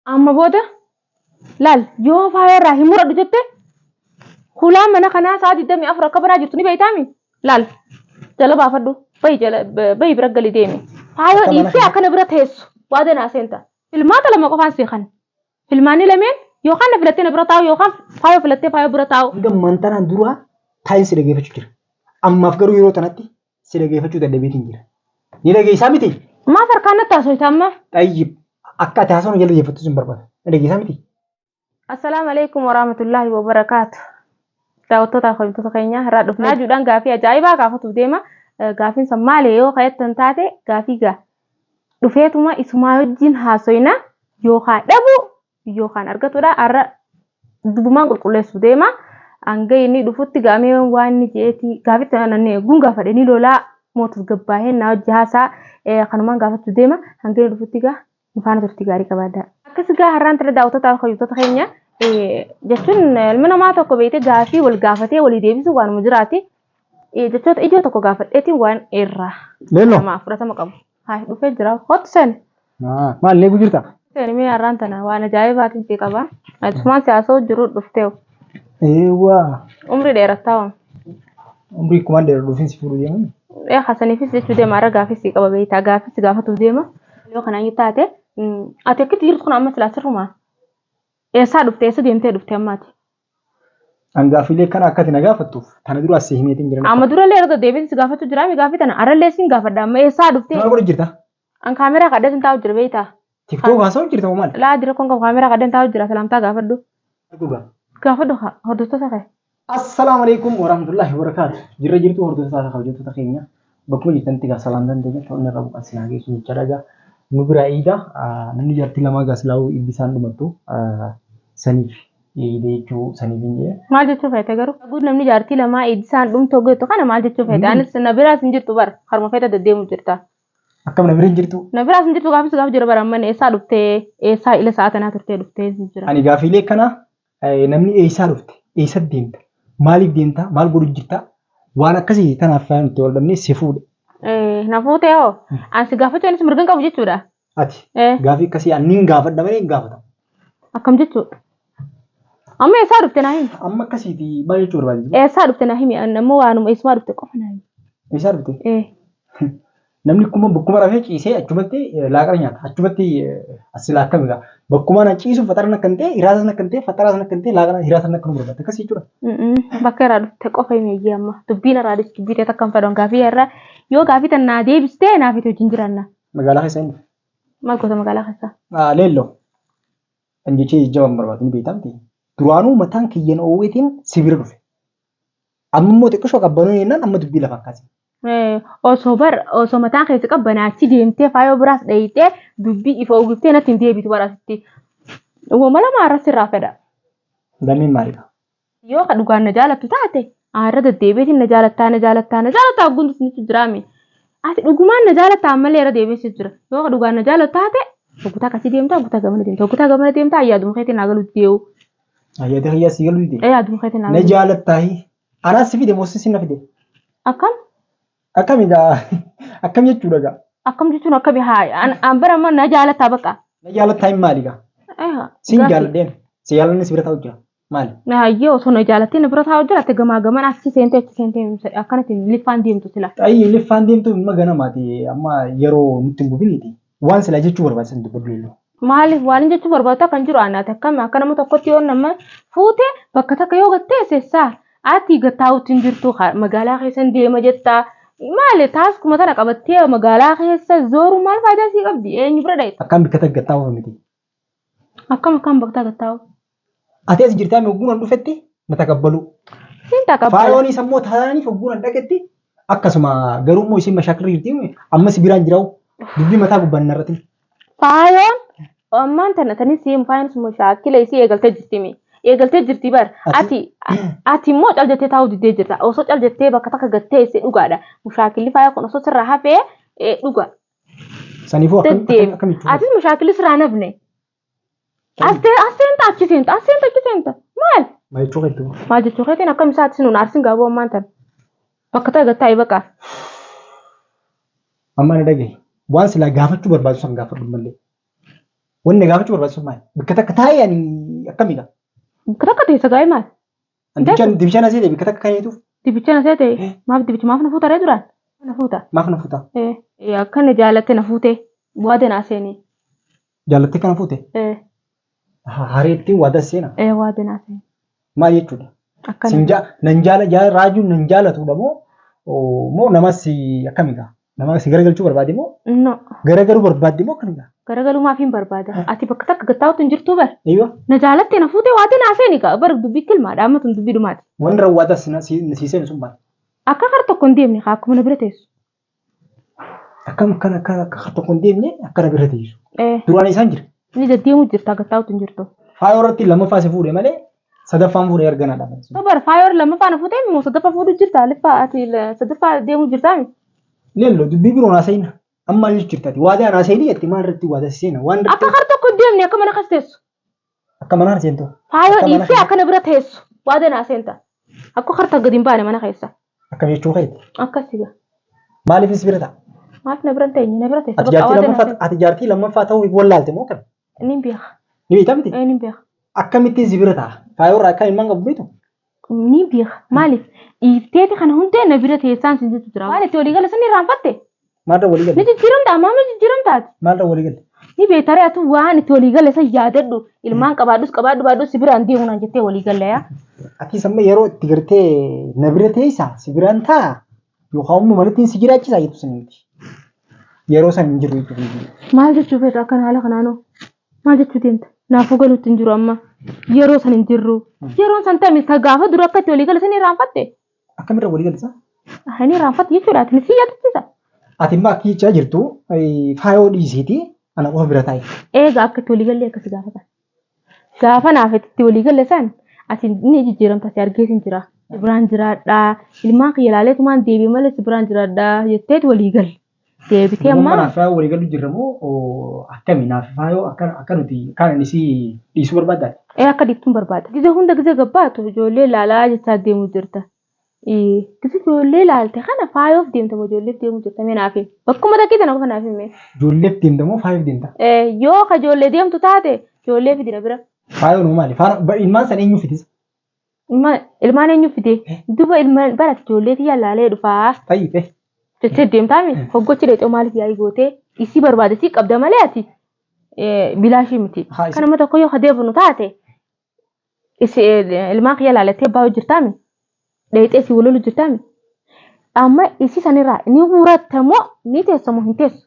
Amma booda laal yoo faaya irraa hin muradhu jette hulaan mana kanaa sa'a 24 akka banaa jirtu ni beektaami laal jala baafadhu bayi jala bayi bira gali deemi faayoo Akka mana dhiiftee kana- akkana bira teessu waa danaa seenta filmaata lama qofaan seekan filmaanni lameen yookaan na filattee na bira taa'u yookaan faayoo filattee faayoo bira taa'u Hanga mantanaan duraa taa'insi dhageeffachuu jira. Ammaaf garuu yeroo tanatti si dhageeffachuu dadhabeetiin jira. Ni dhageessaa miti? Maaf harkaan natti haasofta amma? Xayyib akka ati haasawnu jala deeffattu sin barbaada. Ni dhageessaa miti? Assalaamu alaikum warahmatullaahi wabarakaatu. Daawwattootaa fi kabajamtoota keenyaa irraa dhufne raajuudhaan gaafii ajaa'ibaa gaafatuuf deema. Eh, Gaafiin san maali yoo ka'ettan taate gaafii gaa dhufeetuma isumaa wajjin haasoyna yookaan dhabu yookaan argatudha. Har'a dubumaan qulqulleessu deema. Hanga inni dhufutti gaamee waan inni je'eeti gaafitti ananne gun gaafadhe ni lolaa moo tasgabbaahee na wajji haasaa eh, kanumaan gaafachuu deema. Hanga inni dhufutti gaa nu faana turtii gaarii qabaadhaa. Akkas gaa har'aan tana daawwattoota fayyuutota keenya eh, jechuun eh, ilmi namaa tokko beeyte gaafii wal gaafatee walii deebisu waanuma jiraati. Eh, Jechoota ijoo tokko gaafadheetiin waan irraa Leelloo. namaa fudhatama qabu. Haay dhufee jira. Kottu seeni. Maal leeguu jirta? Seeni mee har'aan tana waan ajaa'ibaatiin si qaba. Atumaan si haasa'u jiru dhufteewu. Eewwaa. Umrii dheerattaa waan. Umrii kumaan dheeraa dhufiin si fuudhu deeman. Ee hasaniifis jechuu deema har'a gaafis si qaba beektaa gaafis gaafatuuf deema. Yoo kana hin taate ati akkitti jirtu kun amma silaa sirrumaa. Eessaa dhufte eessa deemtee dhufte ammaati? An gaaffiilee kana akka ati na gaafattuuf kana dura as si himeetiin jiran. Amma durallee irra deddeebiin si gaafachuu jiraa mi gaaffii tana arrallee siin gaafadha amma eessaa dhuftee Maal godhu jirta? an kaameraa kadhee sin taa'u jira beektaa Tiktook haasa'u jirta moo maali? laa dira kun qabu kaameraa kadheen taa'u jira salaamtaa gaafadhu Dhugaa. gaafadhu haa hordoftoota kee Assalaamu alaikum warahmatullahi wabarakaatu. Jirra jirtuu hordoftoota kabajamtoota keenya. Bakkuma jirtanitti egaa salaamtaan teenya kan inni irraa buqaan sin haa geessu jechaadha. Egaa nu biraa eegaa namni jaartii lamaa egaa silaa'uu ibbi isaan dhumattu saniif eegde jechuu saniif hin jee. Maal jechuu feete garuu? Guud namni jaartii lamaa eegdi isaan dhumtu hoggu jettu kana maal jechuu feete? Anis na biraas hin jirtu bara harma feeta deddeemu jirta. Akkam na bira hin jirtu? Na biraas hin jirtu gaafis gaaf jira bara amma eessaa dhuftee eessaa ila sa'a tanaa turtee dhuftee jira. Ani gaafiilee kana Namni eessaa dhufte? Eessatti deemta? Maaliif deemta? Maal godhu jirta? Waan akkasii kanaaf fayyaa nuti wal dhabnee si fuudhe. Na fuutee hoo? An si gaafachuu anis mirga hin qabu jechuudha. Ati gaafii akkasii an niin gaafadha malee hin gaafatamu. Akkam jechuudha? Amma eessaa dhufte naa himi? Amma akkasiiti maal jechuu barbaadde? Eessaa dhufte naa himi? An ammoo waanuma eessumaa dhufte qofa naa himi. Eessaa dhufte? Ee. Namni kuma bakkuma rafee ciisee achumatti laaqana nyaata. Achumatti asila akkami gaa. Bakkuma na ciisu faxaraan akka hin ta'e, hiraasaan akka hin ta'e, faxaraan akka hin ta'e, laaqana hiraasaan akka nu barbaadde akkas jechuudha. Bakka irraa dhufte qofa hin eeyyee amma. Dubbiin irraa dhufte dubbii ta'e takka hin fedhan gaafii irraa yoo gaafii tan naa deebiste naaf itti wajjin jiranna. Magaalaa keessa hin dhufe. Maal goota magaalaa keessaa? Leelloo. Kan jechee jajjabaan barbaadu ni beektaa miti. Duraanuu mataan kiyyan oowweetiin si bira dhufe. Amma immoo xiqqishoo qabbanoo jennaan amma dubbii lafa akkasii. Eh, Osoo bar osoo mataan keessa qabbanaa achi deemtee faayoo biraas dhayitee dubbii ifa uwwiftee natti hin deebitu bara asitti. Woma lama irratti irraa fedha. Lameen maalidha? Yoo ka dhugaan na jaalattu taate aarra deddeebiitiin na jaalattaa na jaalattaa na jaalattaa ogguun isinitti jiraame. Ati dhugumaan na jaalattaa ammallee irra deebiinsi jira. Yoo ka dhugaan na jaalattu taate oggutaa akkasii deemtaa oggutaa gamana deemtaa oggutaa gamana deemtaa yaaduma keetiin naa galuutti dee'u. Yaada kiyyaa si galu dide. Ee aduu keetiin Na alaa. jaalattaahi. Anaas si fide moo si na fide? Akkam? Akkam egaa? Akkam jechuudha egaa? Akkam jechuun akkami haa an- an bara amma na jaalataa baqa. Na jaalattaa hin maali egaa? Eeha. Siin gaafii. jaaladheen. Si jaalanne si bira taa'u jira. Maali? Na hayyee osoo na jaalattee na bira taa'u jiraatte gamaa gaman achi seentee achi seentee himsa- akkanatti liffaan deemtu sila. Xayyii liffaan deemtu amma ganamaati. Amma yeroo nutti hin bubiniiti. Waan silaa jechuu barbaade san dubbadhu illee. Maaliif waan hin jechuu barbaadu kan jiru aanaa takka akka nama tokkotti yoo nama fuute bakka takka yoo gattee sessaa ati gattaa'utti hin jirtu ka- magaalaa keessa hin deema jetta maali taaskuma tana qabattee magaalaa keessa zooru maal faayidaa sii qabdi eenyu bira dhayxa Akkaan bikka takka gattaa'uuf miti. Akkam akkaan baktaa gattaa'u. Ati as jirtaa mi hogguun an dhufetti na takabbaluu. Siin taqabbala. Faayooniis ammoo taanaaniif hogguun an dhaqetti akkasuma garuu immoo isiin mashaakirri jirti mi ammas biraan jiraa'u dubbii mataa gubbaan hin har'atin. Faayoon ammaan tana tanis siin faayoon sun mashaakila isii eegaltee jirti mi. Eegaltee jirti bar. Ati ati immoo cal jettee taa'uu diddee jirta. Osoo cal jettee bakka takka gattee isii dhugaadha. Mushaakilli faayoo kun osoo sirraa hafee dhugaa. Saniifuu akkam- Deddeem. akkam- akkamitti hubatte? Atis mashaakilis irraa nafne. As te- as seenta achi seenta as seenta achi seenta maal? Maal jechuu keetti hoo? Maal jechuu keetiin akkam isaatis nuun arsin gaaboo ammaan tan. Bakka ta'e gattaa'e baqa. Amma na dhagahi. Waan silaa gaafachuu barbaadu san gaafadhu malee. Wanni gaafachuu barbaadu sun maali? Bakka takka taa'ee ani akkamidha? Bakka takka teessa gaa'e maal? An dibichaan dibichaan asii deebi katakka kan jeetuuf Dibicha na seete Eh. maaf dibicha maaf na fuuta ree duraan na fuuta. maaf na fuuta Eh, eh, Akka na jaalatte na fuute waada naa seeni. jaalattee kana fuute Eh, Ha- hareettiin waada seena eh, Waada naa seeni. maal jechuudha Akka sin jaa nan jaala jaala raajuun nan jaalatudha moo oo, moo namas akkamiidha Nama si garagalchuu barbaade moo No. garagaruu barbaadde moo kan dha? Garagaluu maaf hin barbaada? Ati bakka takka gattaa'utu hin jirtuu bar. Eeyyoo. Na jaalatte na fuutee waatee na haaseen egaa bar dubbii kilmaadha amma tun dubbii dhumaati. Wanni rawwaataa si si seenu sun maal? Akka kar tokko hin deemne kaa akkuma na bira teessu. Akkam akka akka akka kar tokko hin deemne akka na bira teessu. Eh, Duraan isaan jira. Inni deddeemuu jirta gattaa'utu hin jirtu. Faayoo irratti lammaffaa si fuudhe malee Sadaffaan fuudhee erga na dhaban. sun. Bar faayoor lammaffaa na fuutee immoo sadaffaa fuudhu jirta liffaa ati la- sadaffaa deemuu jirtaa mi? Leello dubbii biroon haasa'ina. Amma maal jechuun taate? Waadaa na haasa'ini jetti maal irratti waadaa seena? Waan Akka irratti kar tokko hin deemne akka mana kas teessu. akka manaa seentu. Faayoo Akka mana dhiiftee kana- akka na bira teessu. Waada naa seenta. Akka kar tokko gadi hin baane mana keessa. Akka jechuu keeti. Akkasi gaa. Maaliif si bira ta'a? Maaf na bira hin teenye na bira teessa. Ati Bakka jaartii waada naa lammaffaa seenta. ati jaartii lammaffaa ta'uu wallaalte moo kan? Inni beeka. Ni beektaa miti? Ee, Ni beeka. Akkamittiin si bira ta'a? Faayoorraa akka ilmaan qabu beektu? Ni beeka. Maaliif? Dhiifteeti kana hundee na bira teessaan sin jettu jira. Waan itti walii gala sirni irraanfatte. Maalirra walii Ni galte? jijjiiramta ammaa ni jijjiiramtaati. Maalirra walii galte? Ni beekta ree atu waan itti walii gala san yaadadhu. Ilmaan qabaadhus qabaadhu baadhus si biraan deemu naan jettee walii galla yaa. Ati samma yeroo itti gartee na bira teessa si biraan ta'a Yookaan immoo malittiin si jiraachisaa jettu sana miti. Yeroo san hin jiru jechuudha. Maal jechuu feetu akkan haala kanaanoo? Maal jechuu deemta? Naafuu galuutti hin jiru amma. Yeroo san hin jirru. Yeroon san tami ta gaafa dura akka itti walii gala sanii irraanfatte. Akkamirra walii galisa? Ani irraanfatte jechuudha. Ati si yaadachiisa. Ati immoo akka jechaa jirtu faayoo dhiisiiti ana qofa bira taa'e. Eega akka itti walii gallee akkasi gaafatan. Gaafa naaf itti walii galle san ati ni jijjiiramta si argee sin jira. Si biraan jiraadha. Ilmaan kiyya ilaalee tumaan deebi'e malee si biraan jiraadha jetteet walii galle. Deebitee Amma ammaa naaf faayoo walii galuu jirra moo oo, akkami naaf faayoo akka akka nuti kaan ani si dhiisuu barbaaddaati. ee akka dhiiftuun barbaada. Gizee hunda gizee gabbaatu ijoollee ilaalaa jechaa deemuu jirta. Gisa ijoollee ilaalte kana faayoof deemta moo ijoolleef deemuu jirta mee naaf himi. Bakkuma takkee tana qofa naaf himi. Ijoolleef deemta moo faayoof deemta? Eh, Yoo ka ijoollee deemtu taate ijoollee fidina bira. Faayoon hoo maali? Faara- ba- Ilmaan san eenyu fidisa? Ilma- Ilmaan eenyu fidee? Duba ilma barati ijoollee tiyya laalee dhufaa. Ta'i ta'e. Jettee deemtaami. Hoggochi dheexoo maaliif yaa'ii gootee isii barbaade isii qabda malee ati eh, bilaashii miti. Haa, isa- Kanuma tokko yoo ka deebinu taate ilmaan kiyya laalattee abbaa hojjirtaami dheexee si walolu jirtaami amma isii sanirraa ni muratta moo ni teessa moo hin teessu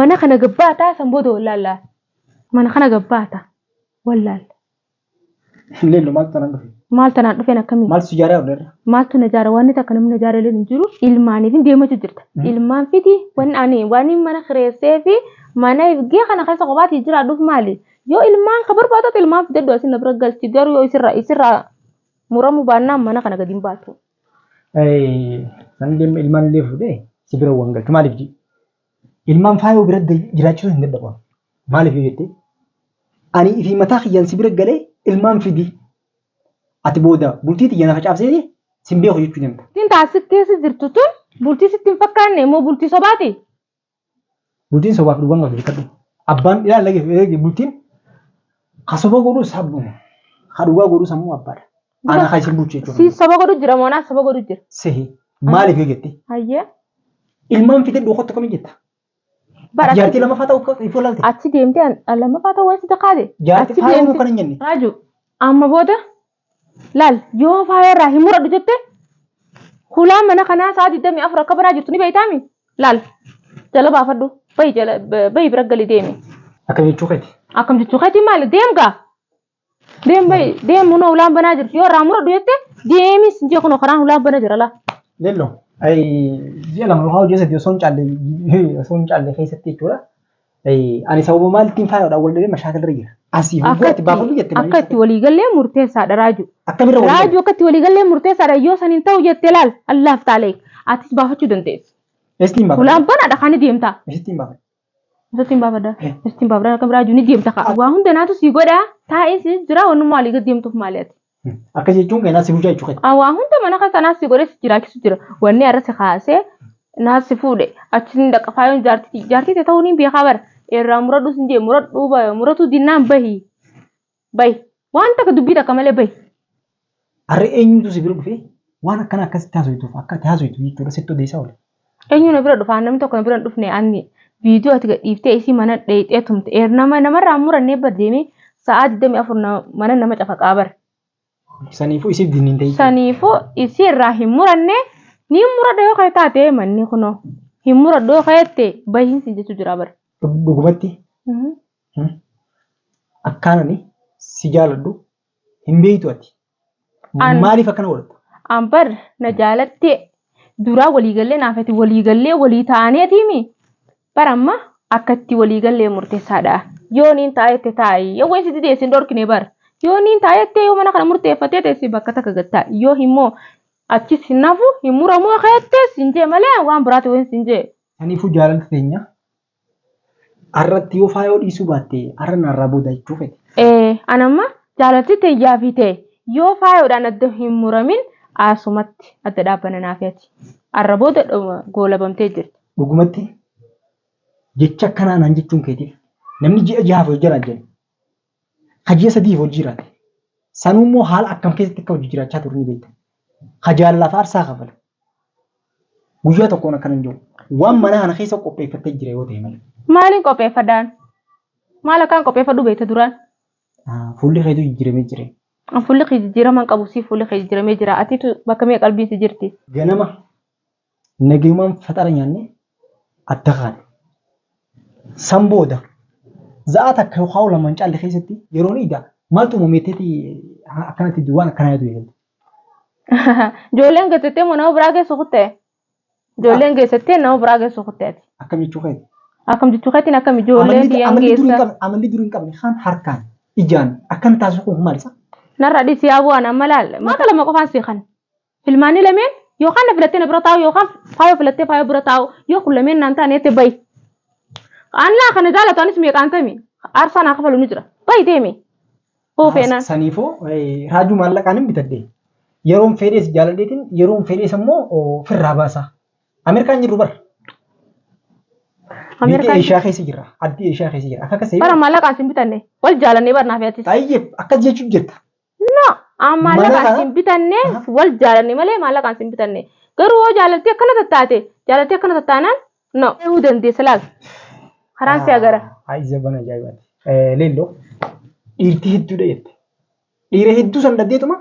mana kana gabbaataa san booda wallaalla mana kana gabbaata wallaalla Illee illee maaltu tanaan dhufe? maal tanaan dhufeen akkamii Maaltu si jaaraa dhufeerra? maaltu na jaara waan takka namni na jaara illee hin jiru ilmaaniif hin deemachu jirta Mm. ilmaan fiti waan ani waan mana kireessee fi mana ifgee kana keessa kophaatti jiraadhuuf maali Yoo ilmaan ka barbaadatu ilmaan fidadhu asin na bira galchi garuu yoo isirraa isirraa muramuu baannaan mana kana gadi hin baatu. San deemma ilmaan illee fuudhee si bira waan galchu maaliif jii? Ilmaan faayoo bira jiraachuu hin danda'u. Maaliif yoo jettee? Ani ifii mataa kiyyaan si bira galee ilmaan fidii. Ati booda bultii tiyya na facaafsee sin beeku jechuu deemta. Ittiin taasisa keessa jirtu tun bultii sitti hin fakkaanne immoo bultii sobaati. Bultiin sobaaf dhugaan qabdu beekadhu. Abbaan dhiyaa lage eegi bultiin ka soba godhu sabduma. Ka dhugaa godhu sammuu abbaadha. Ana ka isin bulchu jechuudha. Si soba godhu jira moo naaf soba godhu jira. Sehi maaliif yoo jette Hayyee. ilmaan fidee dhokottu kami jetta. Bara Jaartii lamaffaa ta'u akka ifoo laalte. achi deemtee an- an lammaffaa ta'uu waan si takkaate. Jaartii achi faayuu deemtee- kan hin jenne. Raaju amma booda Laal, yoo faaya irraa hin muradhu jette, hulaa mana kanaa sa'a 24 akka baraa jirtu ni beektaami? Laal, jala baafadhu, bahi jala, bahi bira gali deemi. Akkam jechuu keeti? Akkam jechuu keeti maali? Deem gaa! Deem bahi, deem hunoo hulaan banaa jirti. Yoo irraa muradhu jette, deemi sin jee kunoo karaan hulaan bana jira laa. Lello, ji'a lama yookaan hojii sadii osoo hin caalle, osoo hin caalle keessatti jechuudha. Ani sababa maaltiin faayodhaan wal dhabee mashaakil irra jira. Asii hogguu ati baafadhu jette malee. Akka itti walii gallee murteessaadha raajuu. Akkamirra walii Raajuu akka itti walii gallee murteessaadha yoo san hin ta'u jette laal allaaf taalee atis baafachuu dandeessu. Estiin baafadhu. Hulaan banaadha kan ni deemtaa. Estiin baafadhu. Isatti hin baafadha. Eh. Isatti hin baafadha akka raajuu ni deemta ka'a. Waa hunda naatu sii godha taa'ee si jira wannummaa walii gad deemtuuf maali ati. Akka jechuun keenyaa si bulchaa jechuudha. Ah, waa hunda mana kan kanaa si godhee si jiraachisu jira. Wanni irra si kaasee naa si fuudhe achi ni dhaqa faayoon jaartii jaartii ta'e ta'uu ni beekaa bara. Irraa muradhu sin jee muradhu ba- muratu dinnaan bahi. Bahi. Waan takka dubbii takka malee bahi. Harri eenyutu si bira dhufee waan akkana akkasitti haasoftuuf akka ati haasoftu jechuudha sitti odeessaa oole. Eenyu na bira dhufa namni tokko na bira hin dhufne anni viidiyoo ati gadhiiftee isii mana dheeyxee tumte eer nama namarraa hin murannee bar deemee sa'aa 24 na- mana nama cafaqaa bar Saniifuu isiif dinni hin ta'in. saniifuu isii irraa hin muranne ni muradha yoo ka'e taate manni kunoo hin muradhu yoo ka'ette bahiin sin jechuu jira bar. Dhug- Dhugumatti Mhm. akkaanani si jaaladhu hin beeytu ati. An- Maaliif akkana godhatta? An bar na jaalattee duraa waliigallee naafati waliigallee walii ta'aneetiimi bar amma akkatti waliigallee murteessaadha. Yoo niin ta'a jette taa'i yoo wayii si didee sin dhorkine bar yoo niin ta'a jettee yoo mana kana murteeffattee teessi bakka takka gad taa'i yoo immoo achis hin nafu hin muramu akka jettees hin jee malee waan biraati wayin sin jee. Kaniifuu jaalalli teenya Har'atti yoo faayoo dhiisuu baatte har'a narraa booda jechuu fedhe. Ee, an amma jaalalti tiyyaa fi tee yoo faayoodhaan adda hin muramin asumatti adda dhaabbanna naa fi ati. Har'a booda dhuma goolabamtee jirti. Dhugumatti jecha akkanaa naan jechuun keetiif namni ji'a jahaaf yoo jiraajjan Ka ji'a sadiif hojii jiraate. Sanuu immoo haala akkam keessatti akka hojii jiraachaa ture ni beekta. Ka jaalalaaf aarsaa kafale. Guyyaa tokkoon akkana hin jedhu. Waan mana kana keessa qopheeffattee jira yoo ta'e malee. Maaliin qopheeffadhaan? Maal akkaan qopheeffadhu beekta duraan? Fuulli keetu jijjiiramee jira. Fuulli kee jijjiiraman qabu si fuulli kee jijjiiramee jira. Atiitu bakka mee qalbiin si jirti? Ganama Nagayumaan faxara nyaannee adda kaane. San booda za'aa takka yookaan lama hin caalle keessatti yeroon iida maaltu uumame jetteeti akkanatti waan akkanaa yaadu eegalte. Ijoolleen geessattee moo nama biraa geessu kutte? Ijoolleen geessattee nama biraa geessu kutte ati. Akkam jechuu keeti? Akkam jechuu keetiin akkam ijoollee Amalli biyyan amalli durii hin geessa? qabne amalli durii hin qabne kaan harkaan ijaan akkan taasisu kun maal isa? Narra dhisi yaa bu'aan amma laal. Maata lama qofaan sii kan. Filmaanni lameen yookaan na filattee na bira taa'u yookaan faayoo filattee faayoo bira taa'u yoo kun lameen naan taane jette bayi. Annaa kana jaalatu anis meeqaan tami aarsaa naa kafalu ni jira bayi deemi. Hoo feenaan. Saniifoo raajuu maallaqaan hin bitadhe. Yeroon fedhee si jaaladheetiin yeroon fedhees immoo firraa baasa. Ameerikaan jirru bara. Biyya Ameerikaan Eeshiyaa keessa jirra. Addii Eeshiyaa keessa jirra. Akka akkasii. bara maallaqaan sin bitanne wal jaalannee barnaa fi atis. Baay'ee akkas jechuun jirta. No, aan maallaqaan Mallaqa- siin bitanne Aha. wal jaalanne malee maallaqaan siin bitanne. Garuu hoo jaalaltii akkana tattaate jaalaltii akkana tattaanaan no ta'uu dandeessa laal. Karaan si agara. Ayi jabban ajaa'ibaati. Leelloo dhiirti hedduudha jette. Dhiira hedduu san dhaggeetuma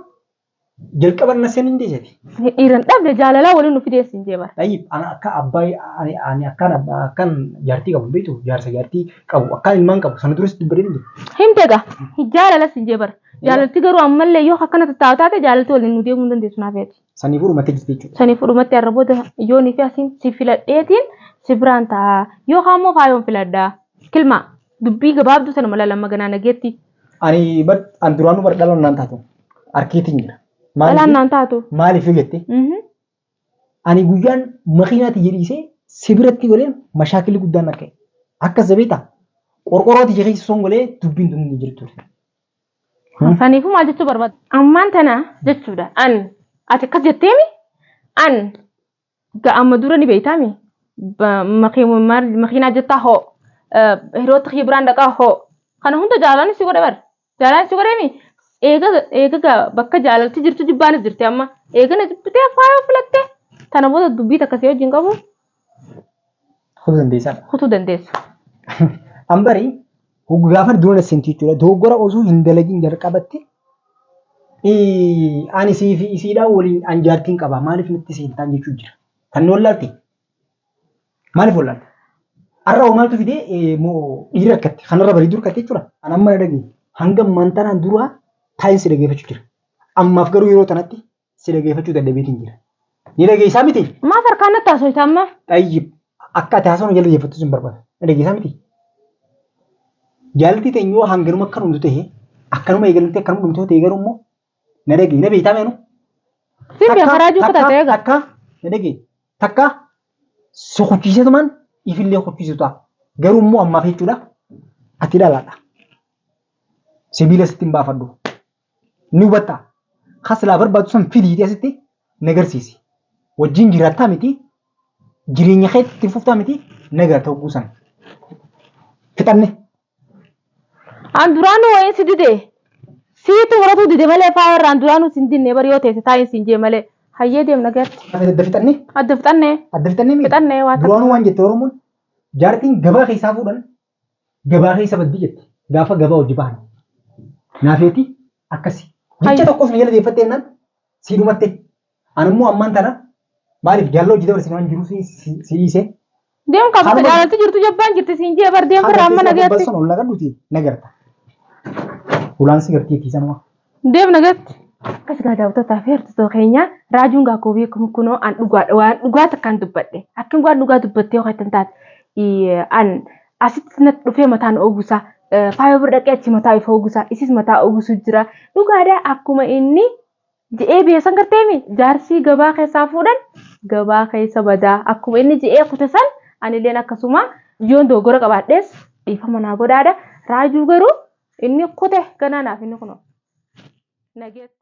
jalqaba na seenin deesati. Ni dhiira hin dhabne jaalalaa waliin nu fidee siin jee bara. Tayyib ana akka abbaa ani ani akkan abbaa akkan jaartii qabu beektu jaarsa jaartii qabu akkan ilmaan qabu sana duras dubbadee hin jiru. Himte egaa jaalala siin jee bara. Jaalalti garuu ammallee yoo akkana tattaa'u taate jaalalti waliin nu deemuu hin dandeessu naaf yaadi. Sanii fuudhumattee jirti jechuudha. Sanii fuudhumattee har'a booda yoonii fi asiin si filadheetiin si biraan ta'a. Yoo kaan immoo faayoon filadhaa. Kilmaa dubbii gabaabduu sana mala lamma ganaa nageetti. Ani bar an duraanuu bar dhala naan taatu harkeetiin jira. Dhalaan naan taatu. Maaliif yoo jette Mhm. ani guyyaan makiinaatti jedhiisee si biratti golee mashaakilli guddaan akka akka zabeeta qorqorrooti jechee son golee dubbiin tun hin jirtu. Saniifuu maal jechuu barbaada? Ammaan tana jechuudha. An ati akkas jetteemi an Ga amma dura ni beeytaa mi? Ba- maki- maal- Makiinaa jettaa hoo? Eh, Hiriyoota kiyya biraan dhaqaa hoo? Kana hunda jaalaan si godhe bar. Jaalaan si godhe mi? Eega eega ga bakka jaalalti jirtu jibbaanis jirti amma. Eega na jibbitee faayoo filattee. Tana booda dubbii takka si wajjin qabu Kutuu dandeessaa. kutuu dandeessa. Ambarii Hoggu gaafan dura na seenti jechuudha. Dogoggora osoo hin dalagin jalqabatti ii, ani sii fi isiidhaa waliin an jaartiin qaba maaliif natti seentaan jechuu jira. Kan nu wallaalte maaliif wallaalte? Har'a hoo maaltu fidee ee, moo dhiirri rakkatti kanarra barii dur kattee jechuudha. An amma na dhagee hanga mantanaan duraa taa'insi dhageeffachuu jira. Ammaaf garuu yeroo tanatti Si dhageeffachuu dadhabeetiin jira. Ni dhageessaa miti? Maaf harkaan natti haasofta amma? Xayyib. Akka ati haasawaa nu jala deeffattu sin barbaada. Na dhageessaa miti? Jaalaltii teenya yoo hanganuma akka dhumtu ta'e akkanuma eegaltee akkanuma dhumtu yoo ta'e garuu immoo na dhagee na beektaa meenu? Siin bee karaa juu kutaa ta'ee gaa. Takka na dhagee takka si kuchiisetumaan ifillee kuchiisu ta'a. Garuu immoo ammaaf jechuudha ati dhalaadha. Sibiila sitti hin baafadhu. Ni hubatta? Kan silaa barbaaddu san fidi jedhee asitti na garsiisi. Wajjin jiraattaa miti? Jireenya kee itti fuftaa miti? Na gaatta hogguu san. Fixanne. An duraanuu wayiin si dide. Siitu muratuu dide malee faaya irraa an duraanuu sin dinne bari yoo teesse taa'iin siin jee malee. Hayyee deemna gatti. Hafe adda fixanne. Adda fixanne. Adda fixanne miti. Fixanne waa takka. Duraanuu waan jette Oromoon jaartiin gabaa keessaa fuudhan Gabaa keessa baddi jette. Gaafa gabaa hojii bahan. Naafeeti akkasi. Jecha tokkos na jala deeffatte jennaan sii dhumatte. An immoo ammaan tana maaliif jaalala hojii dabarsine waan jiru si dhiise. Deem kaa bakka jaalalti jirtu jabbaan jirti siin jee bar deem barraa amma nagaatti. Balson ol nagadhuti nagarta. Hulaan si gartii tiisanuma. Deem nagatti. Akkas gaa daawwattotaa fi hordoftoota keenya raajuun gaa koobii kun kunoo an dhugaadha waan dhugaa takkaan dubbadhe akkan waan dhugaa dubbattee yoo jettan taate ii, an asitti natti dhufee mataan ogusa eh, faayoo bira dhaqee achi mataa ifa ogusa isis mataa ogusu jira dhugaadha akkuma inni je'ee beesan garteemi jaarsii gabaa keessaa fuudhan gabaa keessa badaa akkuma inni je'ee kute san anilleen akkasuma yoon dogoggora qabaadhees Dhiifama naa godhaadha. Raajuu garuu inni kute ganaa naaf inni kunoo. Nageetti.